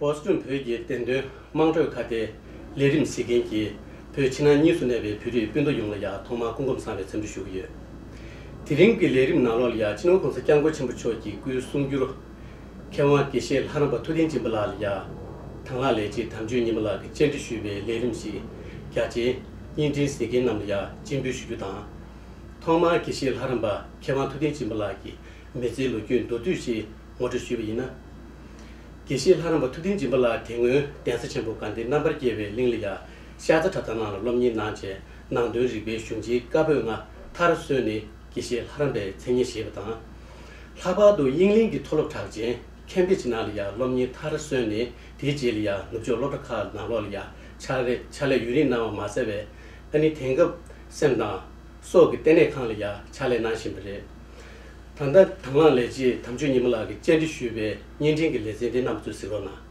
པོ་སི་ཀྲུང་བོད་ཀྱི་བདེན་དོན་དམངས་ཁྲོད་ཁ་བརྡའི་ལས་རིམ་གཟིགས་མཁན་གྱི་བོད་ཕྱི་ནང་གཉིས་སུ་གནས་པའི་བོད་རིགས་སྤུན་ཟླ་ཡོངས་ལ་ཡང་ཐོག་མར་སྐུ་འཁོམས་བཟང་བའི་འཚམས་འདྲི་ཞུ་གི་ཡོད། དེ་རིང་གི་ལས་རིམ་ནང་ལོགས་ལ་ཡང་ཕྱི་ནང་གོང་ས་སྐྱབས་མགོན་ཆེན་པོ་མཆོག་གི་སྐུའི་གསུང་བསྒྱུར། མཁས་དབང་དགེ་བཤེས་ལྷ་རམས་པ་ཐུགས་རྟེན་སྦྱིན་པ་ལགས་ལ་ཡང་དང་ལག་ལས་ཀྱི་དམ་ཆོས་ཉི་མ་ལགས་ཀྱི་བཅར་འདྲི་ཞུས་པའི་ལས་རིམ་བཞིན་རྒྱ་ཆེའི་བརྙན་འཕྲིན་ཟིན་མཁན་རྣམས་ལ་ཡང་སྤྱི་འབུལ་ཞུ་རྒྱུ་དང། ཐོག་མར་དགེ་བཤེས་ལྷ་རམས་པ་མཁས་དབང་ཐུགས་རྟེན་སྦྱིན་པ་ལགས་ཀྱི་མི་ཚེའི་ལོ་རྒྱུས་མདོར་བསྡུས་ཤིག་ངོ་སྤྲོད་ཞུས་པ་ཡིན་ན། དགེ་བཤེས་ལྷ་རམས་པ་ཐུགས་རྟེན་སྦྱིན་པ་ལགས་དེ་སྔོན་གདན་ས་ཆེན་པོ་དགའ་ལྡན་རྣམ་པར་རྒྱལ་བའི་གླིང་ལ་ཡང་ཤར་རྫ་གྲྭ་ཚང་ནང་ལ་སློབ་གཉེར་གནང་རྗེས་ནང་དོན་རིག་པའི་གཞུང་ཆེན་བཀའ་པོད་ལྔ་མཐར་སོན་ནས། ཀྱི་ཞེས་ལྷ་རམས་པའི་མཚན་ཉིད་བཞེས་པ་དང། ལྷག་པར་དུ་དབྱིངས་གླིང་གི་མཐོ་སློབ་གྲགས་ཅན་ཁན་བྷི་ཇི་ནཱ་ལ་ཡང་སློབ་གཉེར་མཐར་སོན་ནས་དེའི་རྗེས་ལ་ཡང་ནུབ་ཕྱོགས་སློབ་གྲྭ་ཁག་ནང་ལོགས་ལ་ཡང་ཕྱག་རེས་ཕྱག་ལས་ཡུན་རིང་གནང་བ་མ་ཟད་བའི་ཨ་ནི་དེང་སྐབས་སེམས་དང། སྲོག་གི་ལྟེ་གནས་ཁང་ལ་ཡང་ཕྱག་ལས་གནང་བཞིན་པ་རེད། ད་ལྟ་དྭང་བླངས་ལས་བྱེད་དམ་ཆོས་ཉི་མ་ལགས་ཀྱིས་བཅར་འདྲི་ཞུས་པའི་བརྙན་འཕྲིན་གྱི་ལེ་ཚན་དེ་རྣམས་གཙོས་གཟིགས་རོགས་གནང།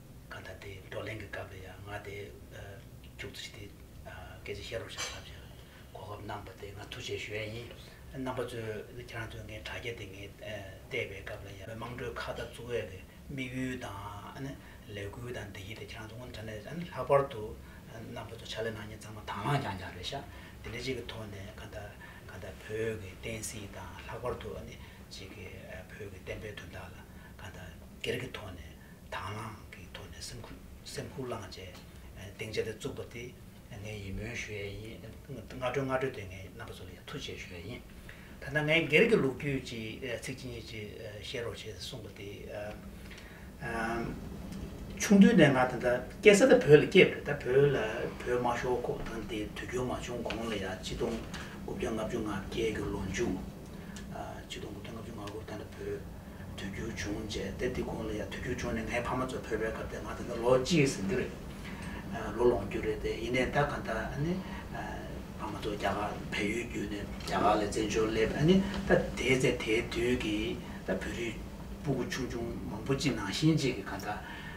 གང་ལྟར་དེའི་བགྲོ་གླེང་གི་སྐབས་ལ་ཡང་ང་དེ་ཅུང་ཙི་ཞིག་དེ་སྐད་ཆ་བཤད་རོགས་བྱ་ཐབས་བྱ་གོ་སྐབས་གནང་བ་དེ་ང་ཐུགས་རྗེ་ཞུ་ཡ་ཡིན། རྣམ་པ་ཚོས་ཁྱེད་རང་ཚོས་ངའི་དྲ་རྒྱ་དེ་ངས་བལྟས་པའི་སྐབས་ལ་ཡང་དམངས་ཁྲོད་ཁ་བརྡ་བཙུགས་ཡས་ཀྱི་དམིགས་ཡུལ་དང་ལས་འགུལ་དང་འདི་གཉིས་དེ་ཁྱེད་རང་ཚོ་ངོ་ཚ་ནས་ལྷག་པར་དུ་རྣམ་པ་ཚོ་ཕྱག་ལས་གནང་མཁན་ཚང་མ་དྭངས་བླངས་རྐྱང་རྐྱང་རེད་ཤག་དེ་འདྲ་ཅིག་གི་ཐོག་ནས་གང་ལྟར་གང་ལྟར་བོད་ཀྱི་བསྟན་སྲིད་དང་ལྷག་པར་དུ་ཅིག་གི་བོད་ཀྱི་བསྟན་པའི་དོན་དག་ལ་གང་ལྟར་སྒེར་གྱི་ཐོག་ནས། དྭངས་བླངས་ཀྱི་ཐོག་ནས་སེམས་ཁུར་སེམས་ཁུར་བླངས་བཅས་གདེང་བཅས་ལྟར་བཙུགས་པ་དེ་ངས་ཡིད་སྨོན་ཞུ་ཡས་ཡིན། སྔ་དྲོའི་སྔ་དྲོ་དེ་ངས་རྣམ་པ་ཚོ་ལ་ཡང་ཐུགས་རྗེ་ཞུ་ཡས་ཡིན། ད་ལྟ་ངས་སྒེར་གྱི་ལུགས་རྒྱུད་ཀྱི་ཚིག་ཅིག་གཉིས་ཅིག་བཤད་རོགས་བྱས་གསུངས་པ་དེ། ཆུང་དུས་ནས་ང་དེ་ད་སྐྱེས་ས་ད་བོད་ལ་སྐྱེས་པ་རེད་ད་བོད་ལ་བོད་དམག་ཤོག་ཁོག་དང་དེ་དུས་རྒྱུན་མ་བྱུང་གོང་ལ་ཡ་གཅིག་སྟོང་དགུ་བརྒྱ་ལྔ་བཅུ་ང་བརྒྱད་ཀྱི་ལོ་མཇུག། གཅིག་སྟོང་དགུ་བརྒྱ་ལྔ་བཅུ་ང་དགུ་ད་ལྟ་བོད། དུས་འགྱུར་བྱུང་རྗེས་དེབ་དེ་གོང་ལ་ཡང་དུས་འགྱུར་བྱུང་ནས་ངའི་ཕ་མ་ཚོ་བོད་པའི་སྐབས་དེ་ང་ད་ལྟ་ལོ་གཅིག་ཟིན་རྒྱུ་རེད། ལོ་ལོངས་རྒྱུ་རེད་དེ་ཡིན་ནས་ད་ག་ད་ནི་ཕ་མ་ཚོ་རྒྱ་གར་བལ་ཡུལ་བརྒྱུད་ནས་རྒྱ་གར་ལ་བཙན་བྱོལ་སླེབས་ཨ་ནི་ད་དེའི་ཚེ་དེའི་དུས་ཀྱི་ད་བོད་རིགས་སྤུ་གུ་ཆུང་ཆུང་མང་པོ་གཅིག་ནང་བཞིན་གཅིག་གི་ག་ད་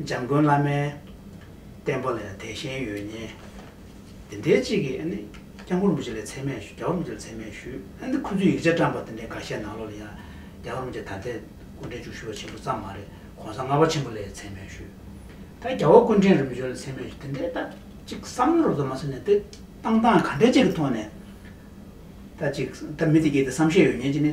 འཇམ་མགོན་བླ་མའི་བསྟན་པ་ལས་དད་ཞེན་ཡོད་ཉེན། འདི་འདྲའི་གཅིག་གིས་ཨ་ནི་སྐྱག་མགོར་མོ་ཆེ་ལས་ཚད་མེད་ཞུ་སྐྱག་བར་མོ་ཆེ་ལས་ཚད་མེད་ཞུ་ཨ་ནི་ཁོ་ཚོས་ཡིག་ཆ་བཀྲམས་པ་དེ་འདྲའི་འགའ་ཤས་ནང་ལོག་ལ་ཡང་སྐྱག་བར་མོ་ཆེ་ད་ལྟའི་སྐུ་འཕྲེང་བཅུ་ཞུ་བ་ཆེན་པོ་ཙམ་མ་རེད་གོང་ས་ལྔ་བ་ཆེན་པོ་ལས་ཚད་མེད་ཞུ་ད་རྒྱ་བོ་སྐུ་འཕྲེང་རིམ་བྱོན་ལས་ཚད་མེད་ཞུ་དེ་འདྲའི་ད་ཅིག་བསམ་བློ་རོབ་ཙམ་མ་ཟོས་ནས་དེ་བཏང་སྟངས་ག་འདྲའི་ཅིག་གི་ཐོག་ནས་ད་ཅིག་ད་མི་དེ་གས་དེ་བསམ་ཤེས་ཡོད་ཉེན་གྱི་ནི།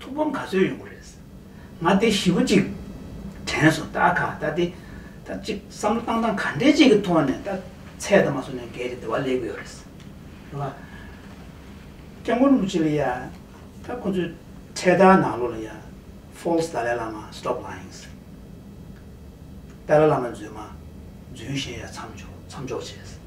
ཐུགས་ཕམ་ག་ཚོད་ཡོང་གི་རེད། ང་དེ་བཞི་བོ་གཅིག་དྲན་སོང་ད་ག་ད་དེ་ད་གཅིག་བསམ་བློ་བཏང་སྟངས་ག་འདྲའི་ཅིག་གི་ཐོག་ནས་ད་ཚད་ད་མ་སོང་ནས་འགལ་གྱི་དེ་བ་ལས་གི་ཡོད་རེད། རེད་བ། སྐྱབས་མགོན་རིན་པོ་ཆེ་ལ་ཡ་ད་ཁོང་ཚོའི་འཕྲལ་ད་ནང་ལོགས་ལ་ཡ False Dalai Lama Stop Lying ཟེར། ཏཱ་ལ་བླ་མ་རྫུན་མ། རྫུན་གཞན་ཡ་མཚམས་འཇོག་མཚམས་འཇོག་བྱས།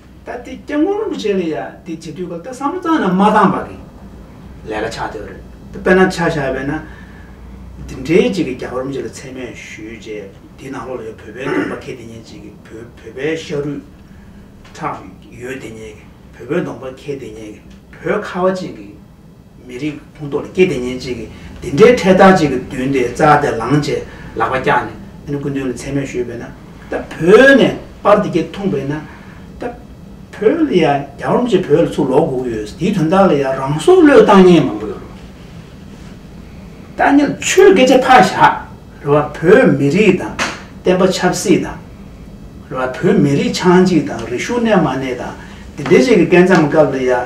ད་ལྟའི་སྐྱབས་མགོན་རིན་པོ་ཆེ་ལ་ཡང་དེ་བྱེད་དུས་སྐབས་ད་བསམ་བློ་གཙང་ན་མ་བཏང་བར་གི་ལས་ཀ་ཆགས་ཐུབ་རེད་དེ་དཔེར་ན་ཆ་བཞག་པས་ན། འདི་འདྲའི་གཅིག་གི་རྒྱ་གར་རིན་པོ་ཆེ་ལ་མཚན་སྨད་ཞུས་རྗེས་དེའི་ནང་ལོགས་ལ་ཡོད་བོད་པའི་སྟོང་པ་མཁས་དེ་ཉིད་ཅིག་གི་བོད་བོད་པའི་ཤ་རུས། ཁྲག་ཡོད་དེ་ཉིད་ཀྱི་བོད་པའི་སྡོང་པ་མཁས་དེ་ཉིད་ཀྱི་བོད་ཁ་བ་ཅན་གྱི། མི་རིགས་ཁོངས་གཏོགས་ལ་སྐྱེས་བདེ་ཉེན་ཅིག་གིས་འདི་འདྲའི་འཕྲལ་ཐག་ཅིག་གི་མདུན་དེ་རྩྭ་དེ་ལངས་རྗེས་ལག་པ་བཀྱགས་ནས་ཨ་ནེ་སྐུ་མདུན་ལ་མཚན་སྨོད་ཞུས་པས་ན། ད་བོད་ནས་པར་འདི་སྐད་འཐུངས་པས་ན། ད་བོད་ལ་ཡང་རྒྱ་རོམ་གྱིས་བོད་ལ་ཚུར་ལོག་དགོས་ཀྱི་ཡོད་ཟེར་དེའི་དོན་དག་ལ་ཡང་རང་སྲོག་བློས་བཏང་མཁན་མང་པོ་ཡོད་རེད། ད་ནི་ཆོས་སྐད་ཆ་ཕར་བཞག་རེ་བ་བོད་མི་རིགས་དང་བསྟན་པ་ཆབ་སྲིད་དང། རེ་བ་བོད་མི་རིགས་ཆང་འཇིག་དང་རི་ཤུ་གནས་མ་གནས་དང་འདི་འདྲའི་ཅིག་གི་སྐད་མཚམས་སྐབས་ལ་ཡང།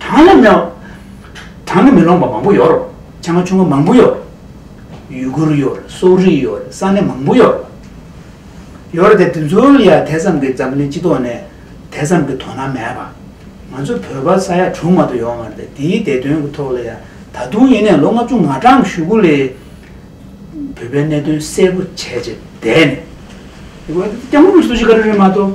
བྲང་ལ་མེ། བྲང་གི་མེ་ལོང་པ་མང་པོ་ཡོད། ཆ་སྔ་ཆུང་ངུ་མང་པོ་ཡོད། ཡུལ་གུར་ཡོད། སོག་རིགས་ཡོད། ས་གནས་མང་པོ་ཡོད། ཡོད། དེ་ཚོ་ལ་ཡང་དེ་ཙམ་གྱི་འཛམ་གླིང་སྤྱི་ཐོག་ནས་དེ་ཙམ་གྱི་དོ་སྣང་མེད་པ། ང་ཚོ་བོད་པ་ས་ཡ་དྲུག་མ་གཏོགས་ཡོད་མ་རེད། དེའི་བདེ་དོན་གྱི་ཐོག་ལ་ཡང་ད་དུང་ཡིན་ནས་ལོ་ལྔ་བཅུ་ང་གྲངས་བཞུགས་སྒོ་ལས། བོད་པའི་གནད་དོན་གསལ་པོ་བྱས་རྗེས་བསྡད་ནས། སྐྱབས་མགོན་པོ་སུ་ཞིག་ག་རེ་རེད་མ་གཏོགས།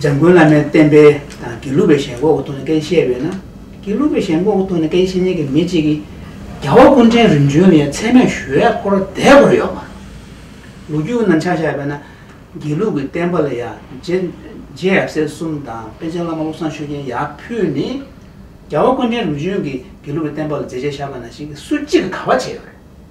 འཇམ་མགོན་བླ་མའི་བསྟན་པའི་དང་དགེ་ལུགས་པའི་ཞལ་འགོག་གི་ཐོག་ནས་སྐད་བཤད་པས་ན། དགེ་ལུགས་པའི་ཞལ་འགོག་གི་ཐོག་ནས་སྐད་བཤད་མཁན་གྱི་མི་གཅིག་གིས། རྒྱ་བོད་ཀུན་ཕྲན་རིམ་བྱོན་ནས་ཚད་མེད་ཞུ་བས་འཁོར་བསྡད་དགོས་ཡོད་མ་རེད། ལོ་རྒྱུས་ནང་ཆ་བཞག་པས་ན། དགེ་ལུགས་ཀྱི་བསྟན་པ་ལ་ཡང་རྗེ་ཡབ་སྲས་གསུམ་དང་པཎ་ཆེན་བླ་མ་བློ་བཟང་ཆོས་རྒྱན་ཡག་ཕུད་ནི། རྒྱ་བོད་ཀུན་ཕྲན་རིམ་བྱོན་གྱི་དགེ་ལུགས་པའི་བསྟན་པ་ལ་མཛད་རྗེས་བཞག་པ་ན་ཞིག་གིས་སུ་གཅིག་གིས་ག་བ་བྱས་ཡོད་རེད།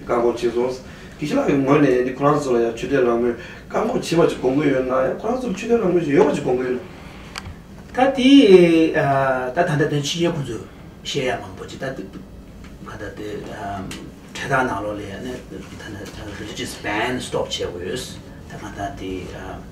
བཀག་འགོག་བྱས་སོང། ཀི་ཤི་ལག་གི་ངོས་ནས་འདི་ཁོ་རང་ཚོ་ལ་ཡང་ཆོས་དད་རང་མོས་བཀག་འགོག་བྱེད་པ་ཅིག་གོང་བུ་ཡོད་ན་ཡང་ཁོ་རང་ཚོར་ཆོས་དད་རང་མོས་ཅིག་ཡོད་པ་ཅིག་གོང་བུ་ཡོད། ད་དེ་ད་ད་ལྟ་དོན་ཕྱི་རྒྱལ་ཁོང་ཚོས་བཤད་ཡ་མང་པོ་ཅིག་ད་དེ་ག་ད་དེ་འཕྲལ་ཐག་ནང་ལོགས་ལས་ནས་ད་ནས་རེ་ལི་ཇེ་སི་བན་སི་ཏོབ་བྱས་དགོས་ད་ག་ད་དེ།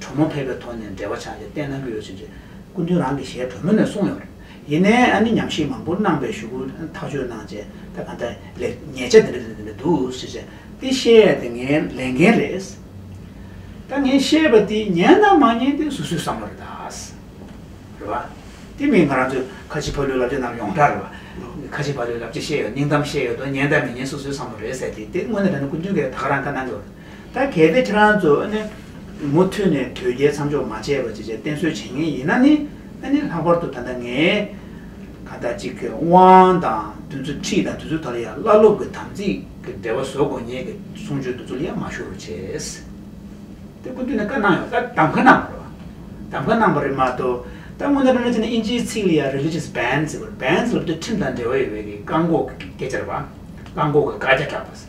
གྲོ་མོ་ཕལ་པའི་ཐོག་ནས་འབྲེལ་བ་ཆགས་ཏེ་བལྟས་གནང་གི་ཡོད་ཟེར། སྐུ་མདུན་རང་གི་ཞལ་གྲོ་མོ་ནས་གསུངས་ཡོང་རེད། ཡིན་ནའི་ཨ་ནི་ཉམས་ཞིབ་མང་པོ་གནང་པའི་ཞུ་སྐུལ་ཐག་གཅོད་གནང་རྗེས་ད་ག་འདྲ་ལེགས་ཉེས་ཆ་འདི་འདྲ་འདི་འདྲ་འདི་འདྲ་འདུག་ཟེར་ཟེར་ཏེ་བཤད་ཡས་དེ་ངའི་ལས་འགན་རེད། ད་ངས་བཤད་པ་དེ་ཉན་དང་མ་ཉན་དེ་སུ་སུའི་བསམ་བློ་རེད་ད། རེད་བ། དེ་མིན་ང་རང་ཚོའི་ཁ་ཆེ་ཕ་ལོའི་བསླབ་བྱ་རྣམས་ཡོངས་གྲགས་རེད་བ། ཁ་ཆེ་ཕ་ལོའི་བསླབ་བྱ་བཤད་ཡོད་སྙིང་གཏམ་བཤད་ཡོད་དོ་ཉན་དང་མི་ཉན་སུ་སུའི་བསམ་བློ་རེད་ཟེར་ཏེ་དེ་དངོས་གནས་རང་ནི་སྐུ་མདུན་གྱིས་ད་ག་རང་ག་གནང་གི་ཡོད། ད་གལ་ཏེ་ཁྱེད་རང་ཚོ་ནི་མུ་མཐུད་ནས་དོལ་རྒྱལ་མཚམས་འཇོག་མ་བྱས་པ་བཅས་བསྟེན་གསོལ་བྱེད་ངེས་ཡིན་ན་ནི་ལྷག་པར་དུ་ད་ལྟ་ངས་ཁ་བརྡ་གཅིག་གི་དབང་དང་དུས་ཚོད་ཁྲིད་དང་དུས་ཚོད་དག་ལ་ཡང་བླ་སློབ་ཀྱི་དམ་ཚིག་གི་འབྲེལ་བ་བཟོ་དགོས་ངེས་ཀྱི་གསུང་ཆོས་འདི་ཚོ་ལ་ཡང་མ་ཞུ་རུ་ཆེས། དེ་སྐུ་མདུན་ནས་བཀའ་གནང་ཡོད་ད་གདམ་ག་གནང་བ་རེད། གདམ་ག་གནང་བ་རེད་མ་གཏོགས་ད་སྔོན་ད་ལོ་ནས་བྱས་ནས་ཨིན་ཇིའི་ཚིག་ལ་ཡང Religious Bans ཟེར་བ་རེད Bans ལབ་དུས་ཁྲིམས་དང་འབྲེལ་བ་ཡོད་པའི་བཀག་འགོག་གི་སྐད་ཆ་རེད་བ། བཀག་འགོག་གི་བཀའ་རྒྱ་བསྒྲགས་པ།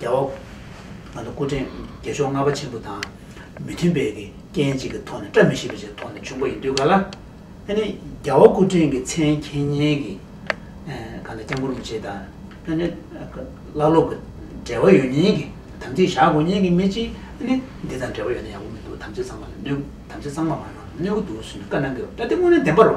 རྒྱལ་བ། ང་ཚོ་སྐུ་ཕྲེང་བརྒྱད་ཕྱོགས་ལྔ་པ་ཆེན་པོ་དང་མི་མཐུན་པའི་གི་རྐྱེན་གཅིག་གི་ཐོག་ནས་བཀྲ་མི་ཤིས་པའི་ཆེད་ཐོག་ནས་བྱུང་པ་ཡིན་དུས་ག་ལ། ཨ་ནི་རྒྱལ་བ་སྐུ་ཕྲེང་གི་མཚན་མཁྱེན་སྙན་གི་ག་ལ་སྐྱབས་འཁོར་མི་བྱེད་དང་ཨ་ནི། བླ་སློབ་གི་འབྲེལ་བ་ཡོད་ཉེན་གི་དམ་ཚིག་བཞག་དགོས་ཉེན་གི་མི་གཅིག་ཨ་ནི། འདི་དང་འབྲེལ་བ་ཡོད་ན་ཡག་པོ་མི་འདུག་དམ་ཚིག་ཚང་མ་ལ་གནོད་དམ་ཚིག་ཚང་མ་མ་གནང་ན་གནོད་གི་འདུག་ཟེར་ནས་བཀའ་གནང་གི་ཡོད་ད་འདི་དངོས་གནས་བདེན་པར་བ།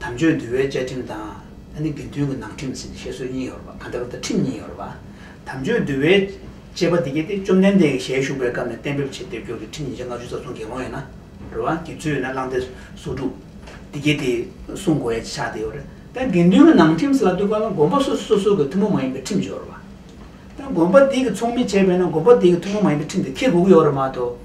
དམ་ཆོས་འདུལ་བའི་བཅའ་ཁྲིམས་དང། ཨ་ནི་དགེ་འདུན་གྱི་ནང་ཁྲིམས་ཟིན་བཤད་སྲོལ་གཉིས་ཡོད་པ་ག་འདྲ་བ་དང་ཁྲིམས་གཉིས་ཡོད་པ། དམ་ཆོས་འདུལ་བའི་བཅས་པ་དེ་གཉིས་ཏེ་བཅོམ་ལྡན་འདས་ཀྱི་ཞལ་བཞུགས་པའི་སྐབས་ནས་གཏན་འབེབས་བྱས་སྡེབ་སྦྱོར་གྱི་ཁྲིམས་ཉིས་བརྒྱ་ལྔ་བཅུ་རྩ་གསུམ་དགེ་སློང་ཡིན་ན། རུ་བ་དགེ་ཚུལ་ཡིན་ན་བླང་སྟེ་སོ་དྲུག། དེ་གཉིས་དེ་སྲུང་དགོས་ཡ་ཆ་དེ་ཡོད་རེད། ད་དགེ་འདུན་གྱི་ནང་ཁྲིམས་ལ་ལྟོས་པ་ན་དགོན་པ་སོ་སོ་སོ་སོ་གྱི་ཐུན་མོང་མ་ཡིན་པའི་ཁྲིམས་ཡོད་རེད། ད་དགོན་པ་དེ་གི་ཚོགས་མི་བྱས་པས་ན་དགོན་པ་དེ་གི་ཐུན་མོང་མ་ཡིན་པའི་ཁྲིམས་དེ་ཁེལ་དགོས་ཀྱི་ཡོད་རེད་མ་གཏོགས།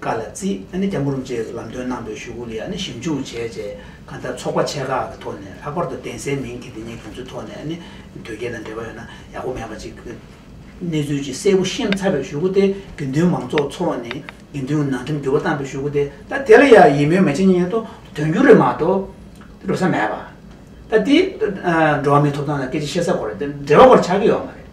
ཀ་ལ་ཙི་ཨ་ནི་སྐྱབས་འགྲོ་རུ་འབྱེད་ལམ་སྟོན་གནང་པའི་ཞུ་སྒོ་ལ་ཡང་ནི་ཞིབ་འཇུག་བྱས་རྗེས་གང་ལྟར་ཚོགས་པ་ཆེ་ཁག་གི་ཐོག་ནས་ལྷག་པར་དུ་གདན་སའི་མིང་དེ་དེ་ཉིད་དགོངས་ཚུལ་ཐོག་ནས་ཨ་ནི་དོལ་རྒྱལ་དང་འབྲེལ་བ་ཡོད་ན་ཡག་པོ་མེད་པ་ཅིག་གི་གནས་ཚུལ་ཅིག་གསལ་པོ་ཤེས་ཚར་བའི་ཞུ་སྒོ་སྟེ་དགེ་འདུན་མང་ཚོགས་ཚོགས་ནས་དགེ་འདུན་ནང་ཁྲིམས་འགྱུར་བ་བཏང་པའི་ཞུ་སྒོ་དེ་ད་དེ་ལ་ཡང་ཡིད་སྨོན་མི་བྱེད་ཉེན་ཏོ་དོན་འགྱུར་རེད་མ་གཏོགས་འགྲོ་ས་མེད་པ། ད་དེ་འགྲོ་བ་མིའི་ཐོབ་ཐང་དང་སྐད་ཆ་བཤད་ས་སྐོར་འབྲེལ་བ་སྐོར་ཆགས་ཀྱི་ཡོད་མ་རེད།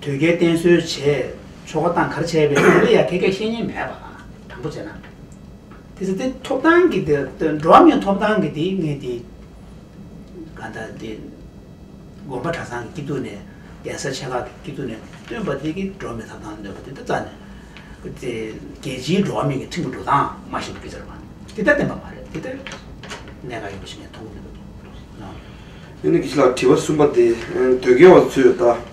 དོལ་རྒྱལ་བསྟེན་གསོལ་བྱས། ཆོ་ག་བཏང་གར་བྱས་པས་དེ་ལ་ཡང་ཁེ་བགད་བཤེས་གཉེན་མེད་པ། དང་པོ་བྱས་ན། དེ་ཚེ་དེ་ཐོབ་ཐང་གི་དེ་འགྲོ་བ་མིའི་ཐོབ་ཐང་གི་དེའི་ངེས་དེ། ག་ད་དེ། དགོན་པ་གྲྭ་ཚང་གི་སྐྱིད་སྡུག་ནས་གདན་ས་ཆེ་ཁག་གི་སྐྱིད་སྡུག་ནས་བཏོན་པ་དེ་གི་འགྲོ་བ་མིའི་ཐོབ་ཐང་ནོད་པ་དེ་ད་རྩ་ནས། དེ་རྒྱལ་སྤྱིའི་འགྲོ་བ་མིའི་གི་ཁྲིམས་ཀྱི་འགྲོ་སྟངས་མ་ཞིག་ཏུ་གི་ཟེར་བ། དེ་ལྟར་བསྟན་པ་མ་རེད་དེ་ལྟར། གནད་འགག་ཡིན་པ་ཞིག་ངས་མཐོང་གི་མི་འདུག། ཨ་ནི་ཀི་ལགས་དྲི་བ་གསུམ་པ་དེ། དོལ་རྒྱལ་བ་ཚོས་ད།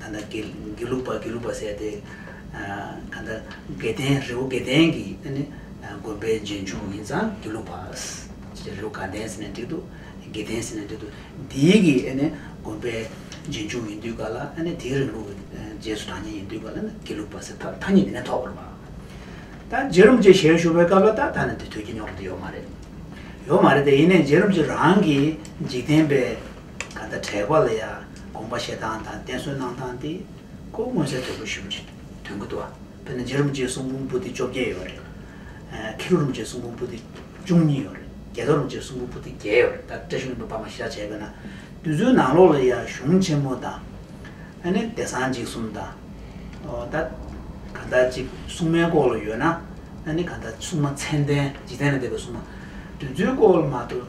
ད་ནི་དགེ་ལུགས་པ་དགེ་ལུགས་པ་ཟེར་ཏེ། ད་ནི་དགེ་ལྡན་རི་བོ་དགེ་ལྡན་གྱི་དགོན་པའི་རྗེས་འཇུག་ཡིན་ཙང་དགེ་ལུགས་པ། རི་བོ་དགའ་ལྡན་ཟེར་ནས་བྲིས་འདུག་དགེ་ལྡན་ཟེར་ནས་བྲིས་འདུག་དེའི་གི་དགོན་པའི་རྗེས་འཇུག་ཡིན་དུས་ག་ལ་དེའི་རིང་ལུགས་ཀྱི་རྗེས་སུ་འབྲང་ཉེན་ཡིན་དུས་ག་ལ་ན་དགེ་ལུགས་པ་ཟེར་ཐག་ཐག་ཉིད་དེ་ནས་ཐོགས་པར་བར། ད་རྗེ་རིན་པོ་ཆེ་ཞལ་བཞུགས་པའི་སྐབས་ལ་ད་ད་ནི་དེ་ཐོས་ཀྱི་ཉོག་རོ་དེ་ཡོད་མ་རེད། ཡོད་མ་རེད་དེ་ཡིན་ནས་རྗེ་རིན་པོ་ཆེ་རང་གིས་འཇིག་རྟེན་པའི། ད་ལྟ་དྲེགས་པ་ལ་ཡང་དགོངས་པ་བཞེས་སྟངས་དང་བསྟེན་གསོལ་གནང་སྟངས་དེ་ཁོ་མངོན་གསལ་དོད་པོ་ཞུ་བ་ཞིག་དོན་གུ་དོག་དཔེར་ན་རྗེ་རིན་པོ་ཆེའི་གསུང་འབུམ་པོ་ཏི་བཅོ་བརྒྱད་ཡོད་རེད། ཁེ་ལོ་རིན་པོ་ཆེའི་གསུང་འབུམ་པོ་ཏི་བཅུ་གཉིས་ཡོད་རེད་རྒྱལ་ཐོག་རིན་པོ་ཆེའི་གསུང་འབུམ་པོ་ཏི་བརྒྱད་ཡོད་རེད་ད་བཀྲ་ཤིས་རིན་པོ་པ་མ་ཤར་བྱས་པས་ན་དུས་ཚོད་ནང་ལོགས་ལ་ཡང་གཞུང་ཆེན་མོ་དང། ཨ་ནི་བདེ་གསང་འཇིགས་གསུམ་དང། ཨོ་ད། གང་ལྟར་གཅིག་སྲུང་མའི་སྐོར་ལ་ཡོད་ན། ཨ་ནི་གང་ལྟར་སྲུང་མ་མཚན་ལྡན་འཇིག་རྟེན་ལ་འདས་པའི་སྲུང་མ། དུས་ཚོད་སྐོར་ལ་མ་གཏོགས།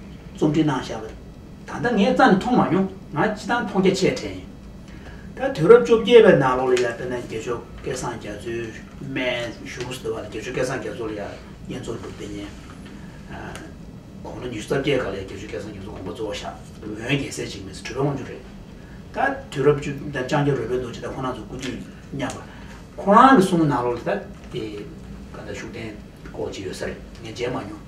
རྩོམ་འབྲི་གནང་བཞག་པ། ད་ལྟ་ངས་རྩ་ནས་མཐོང་མ་མྱོང། ང་སྤྱི་བཏང་མཐོང་རྒྱ་ཆེ་དྲན་ཡོད། ད་དུས་རབས་བཅོ་བརྒྱད་པའི་ནང་ལོགས་ལ་ཡར་བལྟས་ན་དགེ་ཆོས་སྐལ་བཟང་རྒྱ་མཚོའི་སྨན་གཞུང་ཟེར་བ་ལ་དགེ་ཆོས་སྐལ་བཟང་རྒྱ་མཚོ་ལ་ཡར་བསྙེན་རྫོགས་སྒྲུབ་སྡེ་བསྙེན། དགོང་ལོ་ཉི་ཤུ་རྩ་བརྒྱད་ག་ལ་ཡར་དགེ་ཆོས་སྐལ་བཟང་རྒྱ་མཚོ་དགོངས་པ་གཙོ་བོ་བཞག་འོན་རྒྱལ་སྲས་འཇིགས་མེད་ཚུལ་ཁྲིམས་དབང་ཕྱུག་རེད། ད་དུས་རབས་བཅུ་བདུན་ལྕང་སྐྱ་རོལ་པའི་རྡོ་རྗེ་ད་ཁོ་ན་ཚོ་སྐུ་དུས་མཉམ་པ། ཁོ་རང་གི་གསུང་ནང་ལོགས་ལ་ད་དེ་ག་ད་བཞུགས་གདན་སྐོར་ཅིག་ཡོད་ས་རེད་ངས་མཇལ་མ་མྱོང།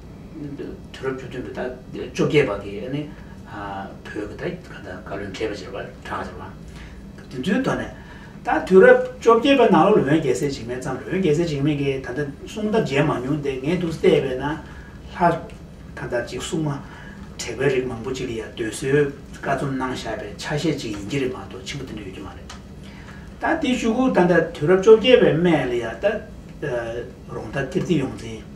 དུས་རབས་བཅུ་བདུན་པའི་ཟླ་བཅོ་བརྒྱད་པ་དེ་ནི་བོད་ཀྱི་ད་ཡིག་དང་བཀའ་བློན་ཁྲི་པ་ཞེས་པ་གྲགས་ཆེ་བ། དེ་ཚོའི་དོན་ནི། ད་དུས་རབས་བཅོ་བརྒྱད་པའི་ནང་ལོ་ལོན་རྒྱལ་སྲས་འཇིགས་མེད་བརྩམས་ལོན་རྒྱལ་སྲས་འཇིགས་མེད་ཀྱི་ད་ལྟ་གསུང་རྟ་མཇལ་མ་མྱོང་སྟེ་ངས་དུས་བལྟས་པས་ན། ལྷ་དང་དར་གཅིག་སྲུང་མ། དྲེགས་པའི་རིགས་མང་པོ་ཅིག་ལ་ཡང་འདོད་གསོལ་བཀའ་རྩོམ་གནང་བཞག་པའི་ཆ་ཤས་ཅིག་ཡིན་གྱི་རེད་མ་གཏོགས་ཆེན་པོ་དེ་འདྲ་ཡོད་ཀྱི་མ་རེད། ད་དེའི་ཞུ་སྒོ་ད་ལྟ་དུས་རབས་བཅོ་བརྒྱད་པའི་སྨད་ལ་ཡང་ད་རོང་ཐ་ཀིརྟི་ཡོངས་འཛིན།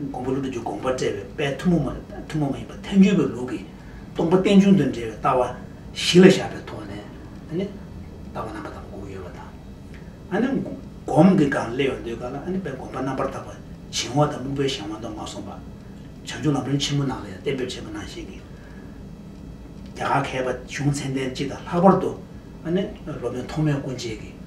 མགོན་པོ་ཀླུ་སྒྲུབ་ཀྱི་དགོངས་པར་བཀྲལ་བའི་དཔལ་ཐུན་མོང་མ་ཐུན་མོང་མ་ཡིན་པ་ཐལ་འགྱུར་བའི་ལུགས་ཀྱི་སྟོང་པ་རྟེན་འབྱུང་དང་འབྲེལ་བའི་ལྟ་བ་གཞི་ལ་བཞག་པའི་ཐོག་ནས། ལྟ་བ་རྣམ་པ་དག་དགུ་ཡོད་པ་དང། སྒོམ་གྱི་སྒང་སླེབས་ཡོང་དུས་དཀའ་ལ་དཔལ་དགོངས་པ་རྣམ་པར་དག་པ་བྱིང་བ་དང་སྨུག་པའི་གཞན་དབང་དུ་མ་སོང་བ། བྱང་ཆུབ་ལམ་རིམ་ཆེན་མོ་ནང་ལ་ཡང་གཏན་འབེབས་བྱས་པ་ནང་བཞིན་གྱི། རྒྱ་གར་མཁས་པ་གཞུང་ཚན་ལྡན་སྤྱི་དང་ལྷག་པར་དུ། སློབ་དཔོན་ཐོགས་མེད་སྐུ་མཆེད་ཀྱིས།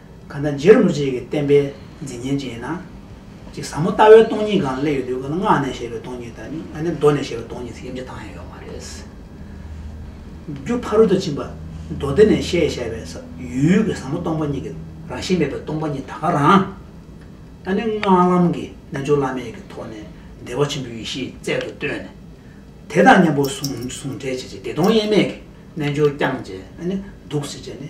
གང་ལྟར་རྗེ་རིན་པོ་ཆེ་ཀྱི་བསྟན་པའི་མཛེས་ཉན་ཅན་ཡིན་ན། གཅིག་ཟབ་མོ་ལྟ་བའི་སྟོང་ཉིད་གང་ལ་སླེབས་ཡོད་དུས་ཀ་ལ་སྔགས་ནས་བཤད་པའི་སྟོང་ཉིད་དང་ནི་མདོ་ནས་བཤད་པའི་སྟོང་ཉིད་ཚིག་དབྱིབས་ཆ་ཚང་ཡང་ཡོད་མ་རེད། རྒྱུ་ཕ་རོལ་ཏུ་ཕྱིན་པ་མདོ་སྡེ་ནས་བཤད་བཞག་པའི་ས་ཡུལ་གྱི་ཟབ་མོ་སྟོང་པ་ཉིད་ཀྱི་རང་བཞིན་མེད་པའི་སྟོང་པ་ཉིད་ད་ག་རང། ད་ནི་སྔགས་ལམ་གྱི་རྣལ་འབྱོར་བླ་མེད་ཀྱི་ཐོག་ནས་བདེ་བ་ཆེན་པོའི་ཡེ་ཤེས་རྩལ་དུ་བཏོན་ནས། དེ་དང་མཉམ་པོར་ཟུང་འབྲེལ་བྱས་རྗེས་བདེ་སྟོང་དབྱེར་མེད་ཀྱི་རྣལ་འབྱོར་བསྐྱངས་རྗེས་ནི་འདུག་ཟེར་བྱས་ནི།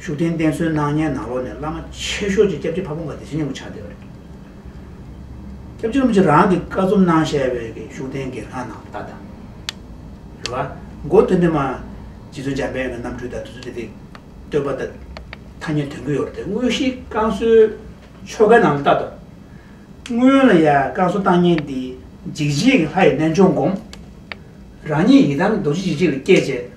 ཤུགས་ལྡན་བསྟེན་གསོལ་གནང་ཉན་ནང་ལོག་ནས་བླ་མ་ཆེ་ཤོས་ཀྱིས་སྐྱབས་རྗེ་ཕ་བོང་ཀ་དེ་བཞིན་ཉམས་པོ་ཆགས་བསྡད་པ་རེད། སྐྱབས་རྗེ་རིན་པོ་ཆེ་རང་གིས་བཀའ་རྩོམ་གནང་བཤད་པའི་གི་ཤུགས་ལྡན་གྱི་ལྷ་ནང་ལྟ་དང། རེ་བ། མགོ་སྟོད་འདྲེ་མ། རྗེ་བཙུན་འཇམ་དཔལ་གྱི་རྣམ་འཕྲུལ་དང་དུས་ཚོད་དེ་དེ། བསྟོད་པ་དང། ཐ་སྙད་དོན་གྱི་ཡོ་རོ་དེ་དངོས་གཞིའི་བསྐང་གསོའི་ཆོ་གའི་ནང་ལ་ལྟ་དང། སྔོན་ལ་ཡང་བསྐང་གསོ་བཏང་ཉེན་དེ་འཇིགས་བྱེད་ཀྱི་ལྷ་ཡི་རྣལ་འབྱོར་བསྒོམ། རང་ཉིད་ཡི་དམ་རྡོ་རྗེ་འཇིགས་བྱེད་ལ་བསྐྱེད་བྱས།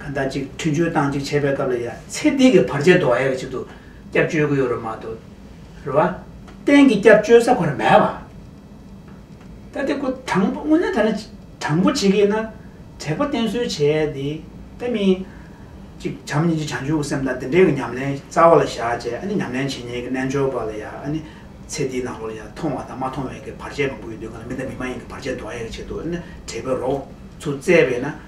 ད་ལྟ་ཅིག་མཐུན་སྤྱོད་སྟངས་ཅིག་བྱེད་པའི་སྐབས་ལ་ཡ་ཚེ་འདི་གི་བར་ཆད་དོ་ཨའི་ཆེད་དུ་སྐྱབས་བཅོལ་གི་ཡོད་རོ་མ་དོ། རེད་བ། གཏན་གི་སྐྱབས་བཅོལ་ས་གོ་ར་མེད་བ། ད་དེ་ཁོ་དྲང་པོ་དངོས་གནས་ད་ནི་དྲང་པོ་བྱེད་གི་ན་དྲེག་པ་བསྟེན་གསོལ་བྱས་ཏེ་ད་མི། ཅིག་བྱམས་སྙིང་རྗེ་བྱང་ཆུབ་ཀྱི་སེམས་དང་དེ་འདྲའི་གི་ཉམས་ལེན་རྩ་བ་ལ་བཞག་བྱས་ཨ་ནི་ཉམས་ལེན་བྱེད་ཉན་གི་རྣལ་འབྱོར་པ་ལ་ཡ་ཨ་ནི་ཚེ་འདིའི་ནང་ལོགས་ལ་ཡ་མཐོང་བ་དང་མ་མཐོང་བའི་གི་བར་ཆད་མང་པོ་ཡོད་དུས་གང་ལ་མི་དང་མི་མ་ཡིན་གི་བར་ཆད་དོ་ཨའི་ཆེད་དུ་ཨ་ནི་དྲེག་པའི་རོགས་ཚུགས་བཙལ་བས་ན།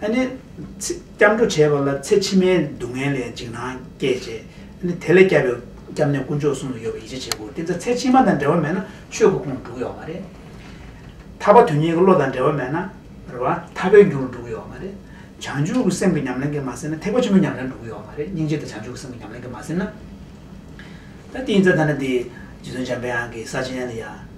ཨ་ནི། སྐྱབས་འགྲོ་བྱས་པ་ལ་ཚེ་ཕྱི་མའི་སྡུག་བསྔལ་ལས་འཇིགས་སྣང་སྐྱེད་ཅེས། ཨ་ནི་དེ་ལས་སྐྱབས་པའི་སྐྱབས་གནས་དཀོན་མཆོག་གསུམ་ལ་ཡོད་པ་ཡིད་ཆེས་བྱེད་དགོས་དེ་ཚེ་ཚེ་ཕྱི་མ་དང་འབྲེལ་བ་མེད་ན་ཆོས་སྐུ་ཁོང་འགྲུག་ཡོད་མ་རེད། ཐར་པ་དོན་གཉེར་གྱི་བློ་དང་འབྲེལ་བ་མེད་ན་རེད་བ་ཐར་པའི་རྒྱུར་འགྲུག་ཡོད་མ་རེད། བྱང་ཆུབ་ཀྱི་སེམས་ཀྱི་ཉམས་ལེན་གྱི་མ་ཟིན་ན་ཐེག་པ་ཆེན་པོའི་ཉམས་ལེན་འགྲུག་ཡོད་མ་རེད་སྙིང་རྗེ་དང་བྱང་ཆུབ་ཀྱི་སེམས་ཀྱི་ཉམས་ལེན་གྱི་མ་ཟིན་ན། ད་དེ་ཡིན་ཙང་ད་ནི་དེ། རྗེ་བཙུན་འཇམ་དཔལ་དབྱངས་ཀྱིས་ས་ཆེན་ལ་ཡང།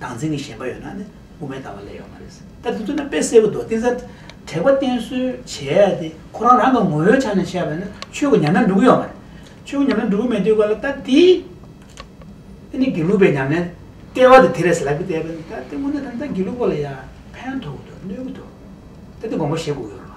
སྡང་འཛིན་གྱི་ཞེན་པ་ཡོད་ན་ནི་དབུ་མའི་ལྟ་བ་ལས་ཡོང་བ་རེད། ད་དེ་ཚོ་ན་དཔེ་གསལ་བོ་འདུག་དེ་ཚ་དྲེགས་པ་བསྟེན་གསོལ་བྱས་ཏེ་ཁོ་རང་རང་གི་ངོ་བོའི་ཆ་ནས་བཤད་པ་ན་ཆོས་ཀྱི་ཉམས་ལེན་འགྲུབ་གི་ཡོད་མ་རེད། ཆོས་ཀྱི་ཉམས་ལེན་འགྲུབ་གི་མེད་དུས་གོ་ལ་ད་དེ་འདི་ནི་དགེ་ལུགས་པའི་ཉམས་ལེན་ལྟེ་བ་དེ་དེ་རེད་ཟེར་ལབ་གི་བལྟས་པས་ན་ད་དེ་སྔོན་ནས་ད་དེ་ད་དགེ་ལུགས་པ་ལ་ཡང་ཕན་ཐོགས་གི་འདུག་གནོད་གི་འདུག་ད་དེ་དགོངས་པ་བཞེས་དགོས་ཀྱི་ཡོད་རེད།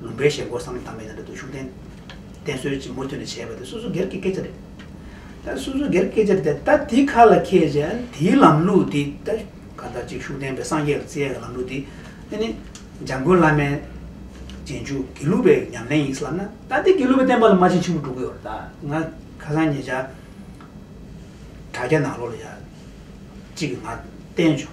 ལུང་པའི་ཞལ་སྐོར་བསམ་ཡས་དམ་པའི་ནང་དུ་ཤུགས་བསྟན། བསྟན་སྲོལ་གྱིས་མུ་མཐུད་ནས་བྱས་པ་དེ་སོ་སོ་སྒེར་གྱི་སྐད་ཆ་རེད། ད་སོ་སོ་སྒེར་གྱི་སྐད་ཆ་རེད་ད་དེ་ཁ་ལ་ཁྱེར་ཅིང་དེའི་ལམ་ལུགས་དེ་ད་ག་ལྟར་ཅིག་ཤུགས་བསྟན་པའི་སངས་རྒྱས་ལ་བརྩི་ཡས་ཀྱི་ལམ་ལུགས་དེ་དེ་ནི་འཇམ་མགོན་བླ་མའི་རྗེས་འཇུག་དགེ་ལུགས་པའི་ཉམས་ལེན་ཡིན་བསམ་ན་ད་དེ་དགེ་ལུགས་པའི་བསྟན་པ་ལ་མ་ཕྱིན་ཕྱིན་པོ་འགྲོ་གི་ཡོད་རེད་ད་ང་ཁ་སང་ཉེ་ཆར་དྲ་རྒྱ་ནང་ལོགས་ལ་ཡག་ཅིག་གི་ངར་བསྟན་བྱུང།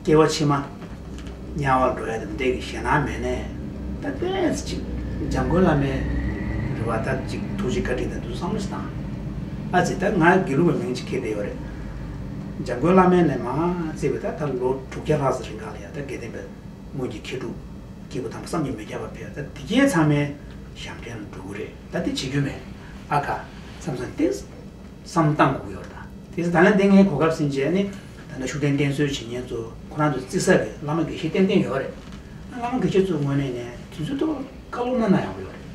སྐྱེ་བ་ཕྱི་མ། དམྱལ་བར་འགྲོ་ཡ་དང་འདྲེས་ཀྱི་ཞེ་སྣང་མེད་ནས། ད་ལྟའི་ཅིག། འཇམ་མགོན་བླ་མའི། རེ་བ་ལྟར་ཅིག་ཐུགས་རྗེ་བཀའ་དྲིན་དང་དུ་བསང་མུས་དང། ཨ་ཙི་ད་ང་དགེ་ལུགས་པའི་མིང་ཅིག་ཁེལ་བསྡད་ཡོད་རེད། འཇམ་མགོན་བླ་མའི་ལན་མ་བཙལ་བས་ད་ད་ལོ་དྲུག་བརྒྱ་ལྷག་ཟིན་རིང་གང་ལ་ཡང་ད་དགེ་ལྡན་པའི་སྔོན་གྱི་མཁས་གྲུབ་སྐྱེས་བུ་དམ་པ་བསམ་གྱིས་མི་ཁྱབ་པ་ཕེབས་ད་དེ་རྐྱེན་ཚང་མའི་ཞབས་འདྲེན་ལ་འགྲོ་གི་རེད་ད་དེ་བྱེད་རྒྱུ་མེད་ཨ་ཁ། བསམ་བསམ་ཏེ། བསམ་བཏང་གུག་ཡོད་རེད་ད། དེ་ཚེ་ད་ལན་དེ་ངའི་གོ་སྐབས་ཟིན་རྗེས་ནི། ད་ལྟ་ཤུགས་ལྡན་བསྟེན་གསོལ་བྱེད་མཁན་ཚོ་ཁོ་རང་ཚོ་བརྩི་ས་རེད་བླ་མ་དགེ་བཤེས་ཏན་ཏན་ཡོད་རེད། ད་བླ་མ་དགེ་བཤེས་ཚོ་དངོས་གནས་ནས་དུས་ཚོད་ཐོག་བཀའ་སློབ་གནང་ན་ཡག་པོ་ཡོད་རེད།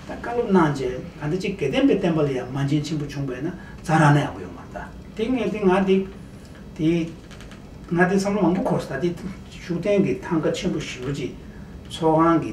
ད་བཀའ་སློབ་གནང་རྗེས་ག་འདྲ་ཅིག་དགེ་ལྡན་པའི་བསྟན་པ་ལ་ཡང་མ་མཇལ་ཆེན་པོ་བྱུང་བས་ན་བཛྲ་རག་ན་ཡག་པོ་ཡོད་མ་རེད། དེ་ངས་དེ་ང་དེ། དེ། ང་དེ་བསམ་བློ་མང་པོ་འཁོར་ས་དེ་ཤུགས་ལྡན་གྱི་ཐང་ག་ཆེན་པོ་ཞིག་རོ་གཅིག་ཚོགས་ཁང་གི།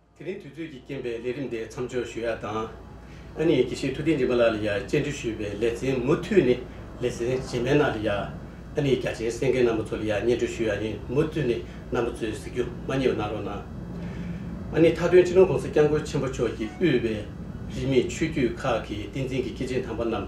དེ་རིང་དུས་ཚོད་ཀྱི་རྐྱེན་པས་ལས་རིམ་འདི་མཚམས་འཇོག་ཞུ་ཡག་དང། ཨ་ནེ་ཡི་དགེ་བཤེས་ཐུགས་རྟེན་རྗེ་མ་ལགས་ལ་ཡང་སྤྱན་འདྲེན་ཞུས་པའི་ལེ་ཚན་མུ་མཐུད་ནས་ལེ་ཚན་རྗེས་མའི་ནང་ལ་ཡང་ཨ་ནེ་ཡི་རྒྱ་ཆེན་སེང་གེ་རྣམས་པོ་ཚོ་ལ་ཡང་སྙན་སྒྲོན་ཞུ་ཡག་ཡིན་མུ་མཐུད་ནས་རྣམ་པོ་ཚོའི་གཟིགས་རྒྱུ་མ་རྙེད་པ་གནང་རོགས་གནང། ཨ་ནེ་མཐའ་དོན་ཕྱི་ནང་གོང་ས་སྐྱབས་མགོན་ཆེན་པོ་མཆོག་གིས་དབུས་པའི་རིས་མེད་ཆོས་བརྒྱུད་ཁག་གི་བསྟན་འཛིན་གྱི་སྐྱེས་ཆེན་དམ་པ་རྣམས